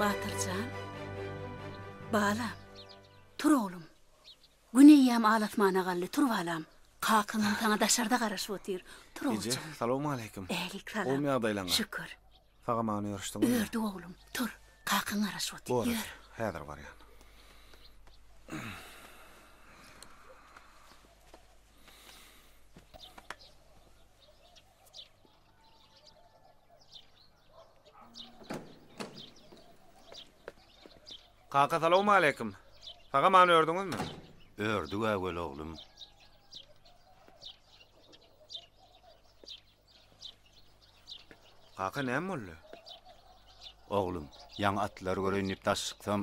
Batyr jan, balam, tur oglum. Gün eýýäm al-asmana galdy, tur balam. Kakaňam saňa daşarda garaşyp otyr. Tur Eje, ogjagym. salowmaleýkim. Älik salam. Gowmy ýagdaýlaňyz? Şükür. Sagamana ýörüşdiňizmi? Ýördik oglum. Tur, kakaň garaşyp otyr. Bor, Ýör. häzir barýan. Kaka salawmaleýkim. Saga many ördüňizmi? Ördük äwel oglum. Kaka näme boldy? Oglum, ýaňy atlary göreýin diýip daş çyksam,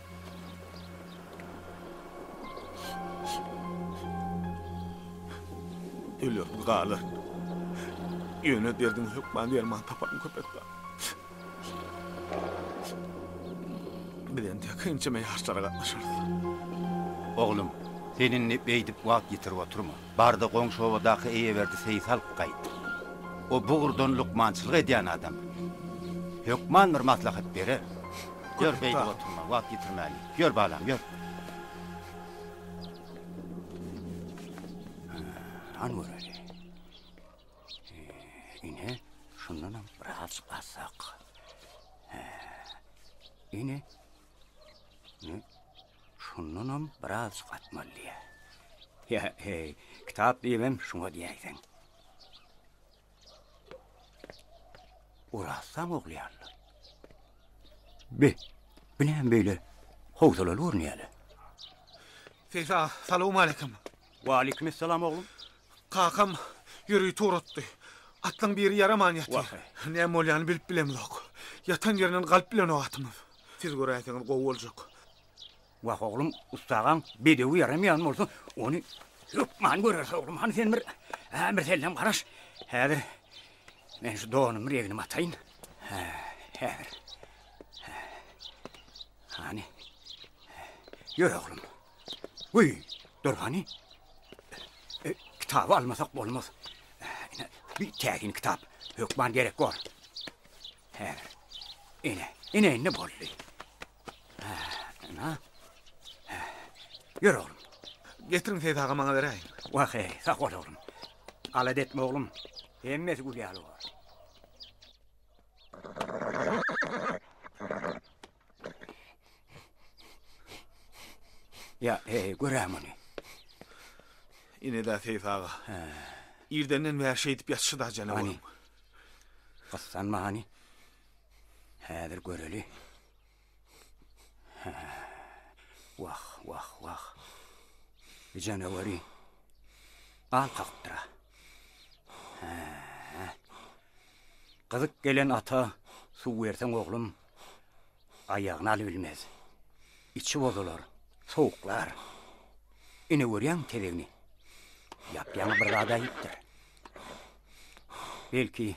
Ölýärmi galy? Ýöne derdiň hökman derman taparyn köpet bar. Biz entek ençeme ýaşlara gatnaşarys. Oglum, sen indi beýdip wagt ýitirip oturma. Bardy goňşy obadaky Eýeberdi seýis alyp gaýt. O bu ugurdan lukmançylyk edýän adam. Hökman bir maslahat berer. Ýör, beýdip oturma, wagt ýitirmäýin. Ýör, balam, ýör. Hany göreli. Ine, şundanam biraz alsak. Ine, Şundanam birazjyk atmaly diýýär. Ýa, heý, kitap diýibem şuňa diýäýseň. Orassaň oglyýanlar. Be, bu näme beýle howsalaly görünýär-le? Seýsa, salawmaleýkim. Waleýkimessalam, oglum. Kakam ýüregiý turatdy. Atlaň biri ýaraman ýatyr. Wah-eý. Näme bolýanyny bilip bilemzok. Ýatan ýerinden galyp bilenok atymyz. Siz göräýseňiz gowy boljak. Wah, oglum, ussagaň bedewi ýaramaýan bolsa, ony hökman göreris, oglum. Hany, sen bir ämirsellem garaş. Häzir men şu donumy regnime ataýyn. Hä, häzir. Hä. Hany. Ýör, oglum. Guý, dur hany. E, kitaby almasak bolmaz. Ine, bir täsin kitap. Hökman gerek bor. Häzir. Ine, ine indi boldy. Hä, ina. Hä. Ýör oglum. Getiriň Seýit aga maňa beräýiň. Wah, heý, sag bol oglum. Alada etme oglum. Hemmesi gül ýaly bor. Ýa, heý, görä muny. Ine-dä Seýit aga. Irdenden bäri şeýdip ýatyşy-da janawaryň. Hany, gyssanma hany. Häzir göreli. Wah, wah, wah. Bu janawary gan kakypdyr-a. Hä. Gyzyk gelen ata suw berseň, oglum, aýagyny alybilmez. Içi bozular, sowuklar. Ine görýäňmi tezegini? Ýap-ýaňy bir zat äýipdir. Belki,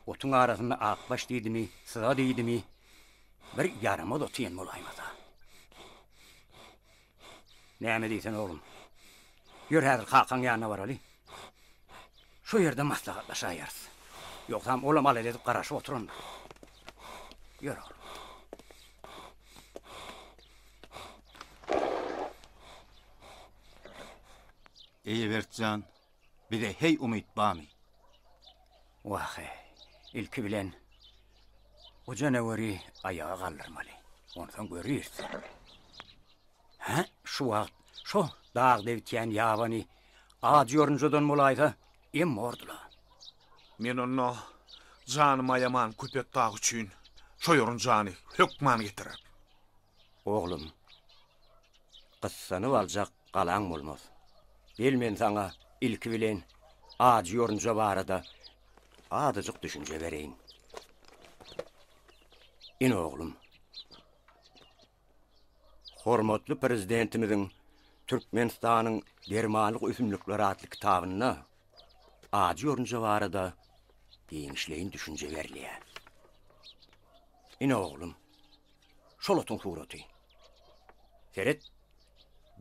otuň arasynda akbaş diýdimi, syza diýdimi, bir ýaramaz ot iýen bolaýmasa. Näme diýsen, oglum, ýör häzir kakaň ýanyna baraly. Şo ýerde maslahatlaşaýarys. Ýogsam olam alada edip garaşyp oturandyr. Ýör, oglum. Eýeberk jan, Bize heý umyt bamy? Wah-e, ilki bilen o janaweri aýaga galdyrmaly. Onsoň göreris. Hä, şu wagt şo dag debitýän ýabany ajy ýorunjadan bolaýsa, em bordy-la. Men onda janymy aýaman Köpetdag üçin şo ýorunjany hökman getirerin. Oglum, gyssanyp aljak galaň bolmaz. Gel men saňa ilki bilen ajy ýorunja barada azajyk düşünje bereýin. Ine oglum. Hormatly Prezidentimiziň Türkmenistanyň dermanlyk ösümlikleri atly kitabynda ajy ýorunja barada giňişleýin düşünje berilýär. Ine oglum. Şol otuň suraty. Seret,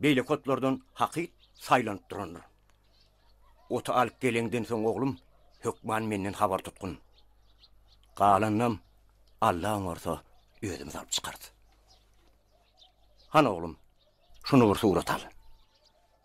beýleki otlardan hakyt saýlanyp durandyr. Oty alyp geleňden soň, oglum, hökman menden habar tutgun. Galanynam Alla oňarsa, özümiz alyp çykarys. Hany, oglum, şuny bir surat al.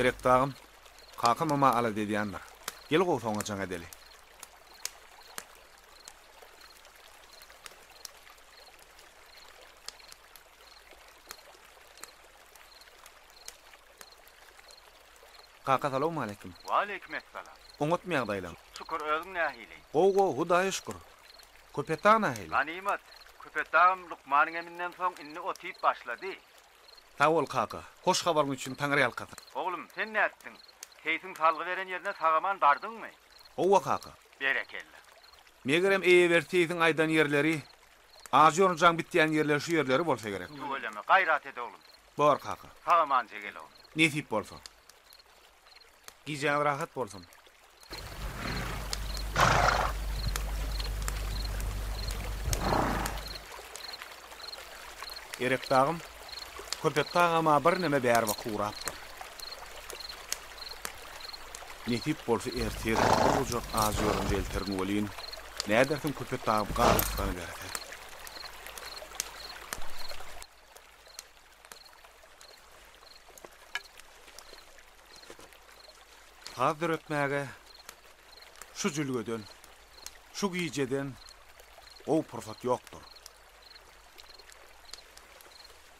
Gerek dagym, kaka mama alada edýändir. Gel gowy soňra jaň edeli. Kaka salawmaleýkim. Waleýkim essalam. Oňatmy ýagdaýlaň. Şükür özüň nähili. Gowy gowy hudaýa şükür. Köpetdag nähili. Ganymat. Köpetdagym lukmanyň eminden soň indi ot iýip başlady. Sag bol kaka. Hoş habaryň üçin taňry ýalkasyn. Oglum sen nätdiň. Keýpiň salgy beren ýerine sagaman bardyňmy. Howwa kaka. Berekella. Megerem eýeberti siziň aýdan ýerleri Ajy ýorun jaň bitýän ýerler şu ýerleri bolsa gerek. Tüweleme, gaýrat et oglum. Bor kaka. Sag-amanca gel oglum. Nesip bolsa. Gijäňiz rahat bolsun. Erekdagym, Köpetdag ama birneme bäri baky gurapdyr. Nesip bolsa ertir bir gujak ajy ýorunja elterin welin, nädersiň köpet dagyp gar yslanyberse. Saz döretmäge şu jülgeden, şu gijeden gowy pursat ýokdur.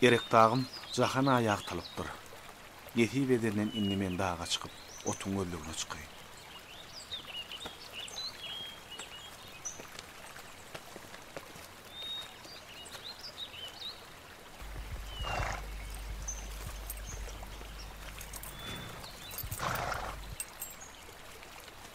Erekdagym jahana ýagtylypdyr. Nesip edenden indi men daga çykyp, otuň gözlegine çykaýyn.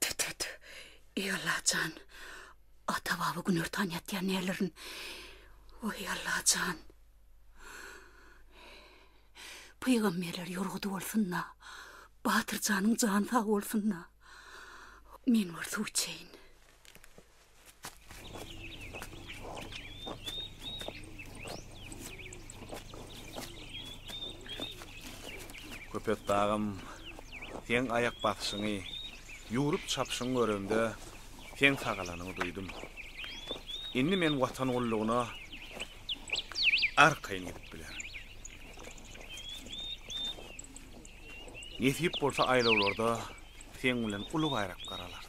Tüt-tüt, eý Alla jan, ata-baba günortan ýatýar nälerin. Weý Alla jan. Pygamberler ýorgudy bolsun-da, Batyr janyň jany sag bolsun-da. Men bir suw içeýin. Köpetdagym, seň aýak basyşyňy, ýüwrüp çapyşyňy göremde, seň sagalanyňy duýdum. Indi men Watan gullugyna arkaýyn gidip bilerin. Nesip bolsa aýlawlarda seň bilen uly baýrak garalarys.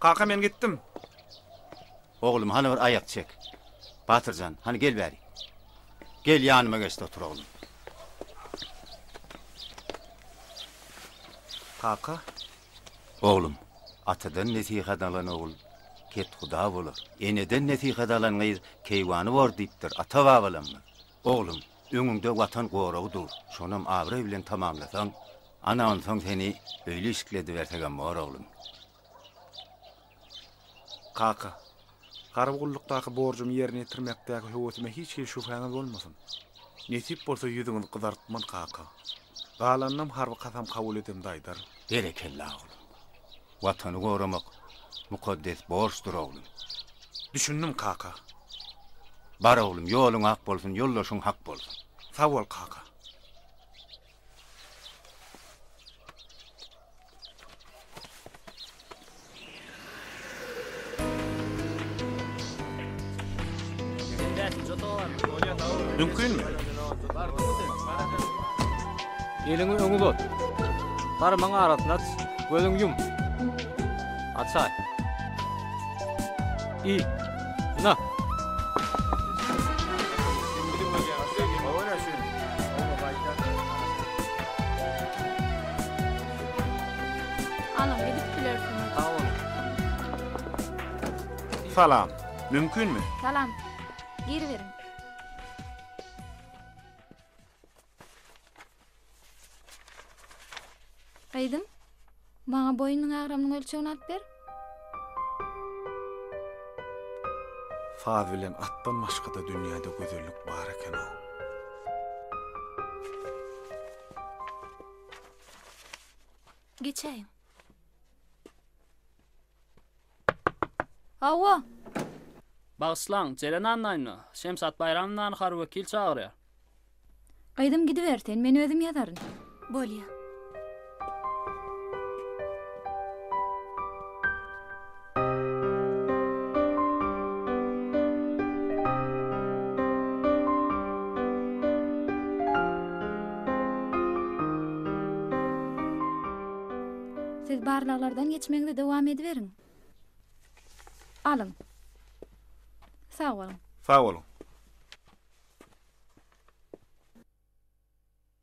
Kaka men gitdim. Oglum hany bir aýak çek. Batyrjan, hany gel bäri. Gel ýanyma geçdi otur oglum. Kaka. Oglum, atadan nesihat alan ogul kethuda bolar. Eneden nesihat alan gyz keýwany bor diýipdir ata-babalarymyz. Oglum, öňüňde Watan goragy dur, şonam abraý bilen tamamlasaň, ana onsoň seni öýli işikli edibersegem bor, oglum. Kaka, harby gullukdaky borjumy ýerine ýetirmekdäki höwesime hiç hili şübhäňiz bolmasyn. Nesip bolsa ýüzüňizi gyzartman, kaka. Galanyny hem harby kasam kabul edemde aýdaryn. Berekella, oglum. Watany goramak mukaddes borçdur oglum. Düşündim kaka. Bar oglum ýoluň ak bolsun ýoldaşyň hak bolsun. Sag bol kaka. Mümkinmi? Eliňi öňe uzat. Barmagyň arasyny aç. Gözüňi ýum. Açaý. I. Na. Alyň, gidip bilersiňiz. Salam. Mümkinmi? Salam. Giriberiň. Aýdym. Maňa boýnuň agramynyň ölçegini alyp ber. Saz bilen atdan başga-da dünýäde gözellik bar eken-ow. Geçäýiň. Hawa. Bagyşlaň, Jeren annaýyny, Şemşat Baýramownany harby wekil çagyrýar. Gyzym gidiber sen, men özüm ýazaryn. Bolýa. Siz barlaglardan geçmegiňizi dowam ediberiň. Alyň. Sag boluň. Sag boluň.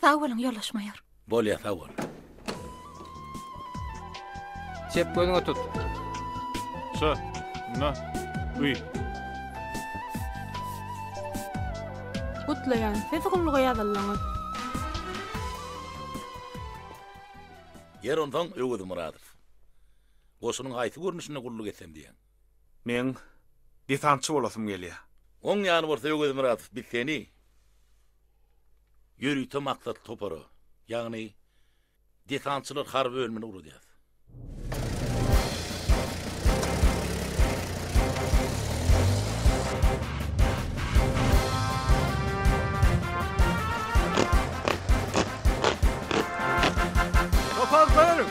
Sag boluň, ýoldaş maýor. Bolýar, sag bol. Çep gözüňe tut. Şu, na, uy. Gutlaýan, siz gulluga ýazyldyňyz. Ýer onsoň Öwez Myradow. Goşunyň haýsy görnüşinde gulluk etsem diýýäň? Men desantçy bolasym gelýär. Oň ýany bolsa Öwez Myradow, biz seni. Ýörite maksatly topara, ýagny desantçylar harby bölümine ugradýar. Topar, daýanyň!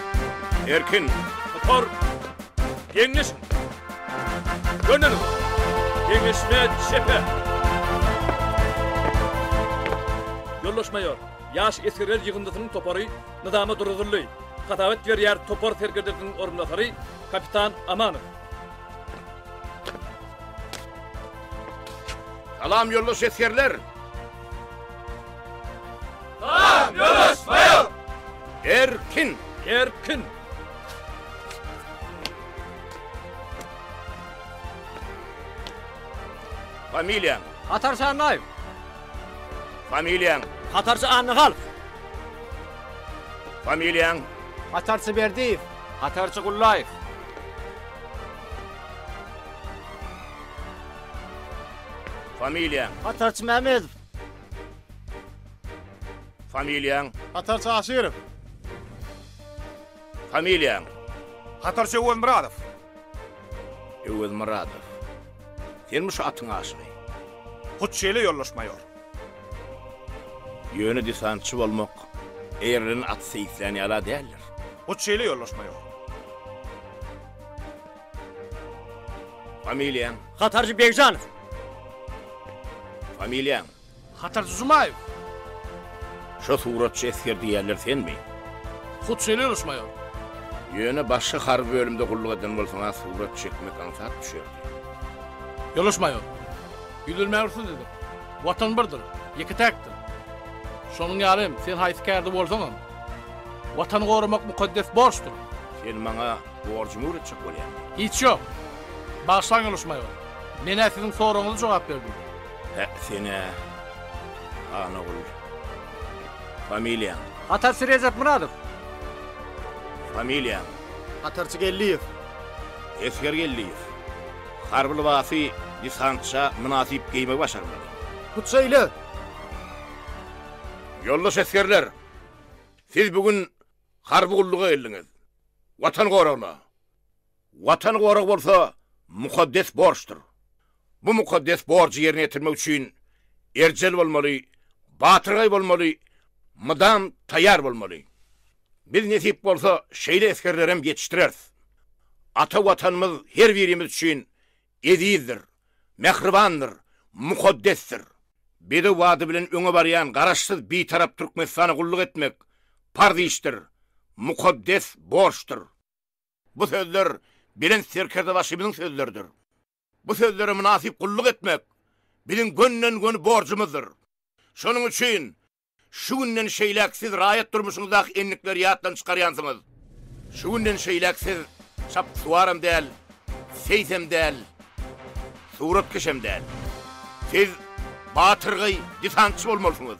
Erkin, topar! Geňeşiň! Döneliň! Geňeşme çepe! Ýoldaş maýor, ýaş esgerler ýygyndysynyň topary nyzama duruzyldy. Hasabat berýär topar serkerdesiniň orunbasary kapitan Amanow. Salam, ýoldaş esgerler! Salam, ýoldaş maýor! Erkin! Erkin! Familiýaň? Hatarçy Annaýew. Familiýaň? Hatarçy Annahalf. Familiýaň? Hatarçy Berdiýew. Hatarçy Gullaýew. Familiýaň? Hatarçy Mämedow. Familiýaň? Hatarçy Aşyrow. Familiýaň? Hatarçy Öwezmyradow. Öwezmyradow. Senmi şu atyň aşygy? Hut şeýle ýoldaş maýor. Ýöne desantçy bolmak eýerlenen atysy islän ýala däldir. Hut şeýle ýoldaş maýor. Familiýaň? Hatarçy Begjanow. Familiýaň? Hatarçy Jumaýew. Şo suratçy esger diýýänler senmi? Hut şeýle ýörüş maýor. Ýöne başga harby bölümde gulluk eden bolsaň-a surat çekmek aňsat düşerdi. Ýoldaş maýor. Ýüzlenmäge rugsat ediň. Watan birdir, ýeke-täkdir. Şonuň ýaly hem sen haýsy kärde bolsaňam, Watany goramak mukaddes borçdur. Sen maňa borjumy öwretjek bolýaňmy? Hiç ýok. Bagyşlaň ýoldaş maýor. Men-ä siziň soragyňyza jogap berdim. Hä, sen-ä, Hanogul. Familiýaň? Hatarçy Rejepmyradow. Familiýaň? Hatarçy Geldiýew. Esger Geldiýew. Harby lybasy desantça mynasyp geýmegi başarmaly. Hut şeýle. Ýoldaş esgerler! Siz bu gün harby gulluga geldiňiz. Watan goragna! Watan goragy bolsa mukaddes borçdur. Bu mukaddes borjy ýerine ýetirmek üçin erjel bolmaly, batyrgaý bolmaly, mydam taýýar bolmaly. Biz nesip bolsa şeýle esgerlerem ýetişdireris. Ata Watanymyz her birimiz üçin ezizdir, mähribandyr, mukaddesdir. Bedew bady bilen öňe barýan Garaşsyz Bitarap Türkmenistana gulluk etmek parz işdir, mukaddes borçdur. Bu sözler Belent Serkerdebaşymyzyň sözleridir. Bu sözlere mynasyp gulluk etmek biziň gönden-göni borjumyzdyr. Şonuň üçin şu günden şeýläk siz raýat durmuşyňyzdaky endikleri ýatdan çykarýansyňyz. Şu günden şeýläk siz çapyksuwaram däl, seýsem däl, suratkeşem däl. Siz batyrgaý desantçy bolmalysyňyz.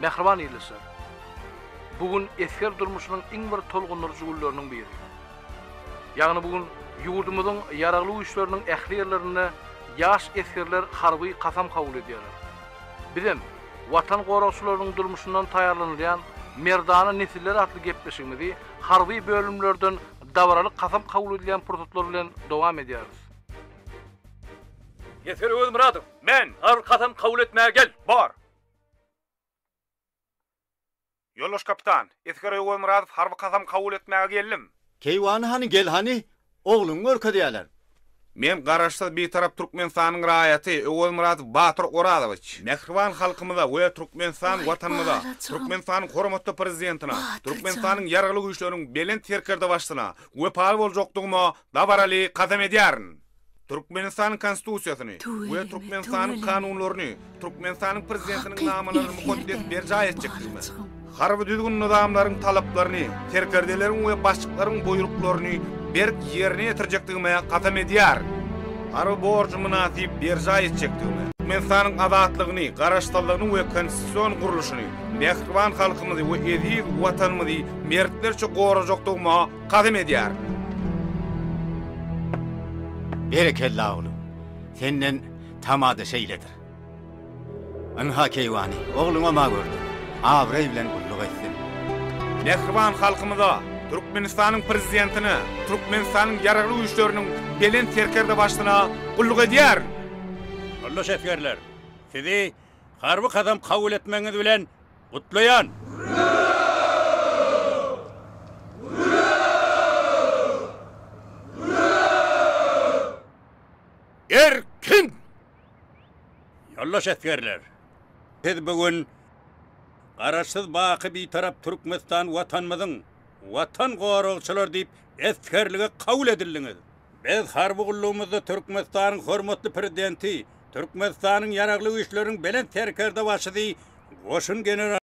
Mähriban ildeşler! Bu gün esger durmuşynyň iň bir tolgundyryjy günleriniň biri. Ýagny bu gün ýurdumyzyň Ýaragly Güýçleriniň ähli ýerlerinde ýaş esgerler harby kasam kabul edýärler. Bizem Watan goragçylarynyň durmuşyndan taýýarlanylýan Merdana nesiller atly gepleşigimizi Harby bölümlerden dabaraly kasam kabul edilýän pursatlar bilen dowam edýäris. Neser Özmyradow, Men, harby kasam kabul etmäge gel. Bar! Ýoldaş kapitan, Esger Öwezmyradow, Harby kasam kabul etmäge geldim. Keýwany hany, gel hany, Ogluňy görkezýäler. Men Garaşsyz, Bitarap Türkmenistanyň raýaty Öwezmyrat Batyr Orazowiç. Mähriban halkymyza we Türkmenistan Watanymyza, Türkmenistanyň hormatly Prezidentine, Türkmenistanyň Ýaragly Güýçleriniň Belent Serkerdebaşysyna wepaly boljakdygyma dabaraly kasam edýärin. Türkmenistanyň Konstitusiýasyny we Türkmenistanyň kanunlaryny, Türkmenistanyň Prezidentiniň namalaryny mukaddes berjaý etjekdigime, harby düzgün-nyzamlaryň talaplaryny, serkerdeleriň we başlyklaryň buýruklaryny berk ýerine ýetirjekdigime kasam edýärin. Harby borjumy mynasyp berjaý etjekdigime, Türkmenistanyň azatlygyny, garaşsyzlygyny we konstitusion gurluşyny, mähriban halkymyzy we eziz Watanymyzy mertlerçe gorajakdygyma Kasam edýärin. Berekella oglum. Senden tamada şeýledir. Ynha keýwany ogluňa ma gördüm. Abraý bilen gulluk etsin. Mähriban halkymyza, Türkmenistanyň Prezidentine, Türkmenistanyň Ýaragly Güýçleriniň Belent Serkerdebaşysyna gulluk edýärin! Yoldaş esgerler! Sizi harby kasam kabul etmegiňiz bilen Gutlaýan! Erkin! Ýoldaş esgerler! Siz bu gün Garaşsyz baky Bitarap Türkmenistan Watanymyzyň Watan goragçylary diýip esgerlige kabul edildiňiz. Biz harby gullugymyzda Türkmenistanyň hormatly Prezidenti, Türkmenistanyň Ýaragly Güýçleriniň Belent Serkerdebaşysy, Goşun generaly,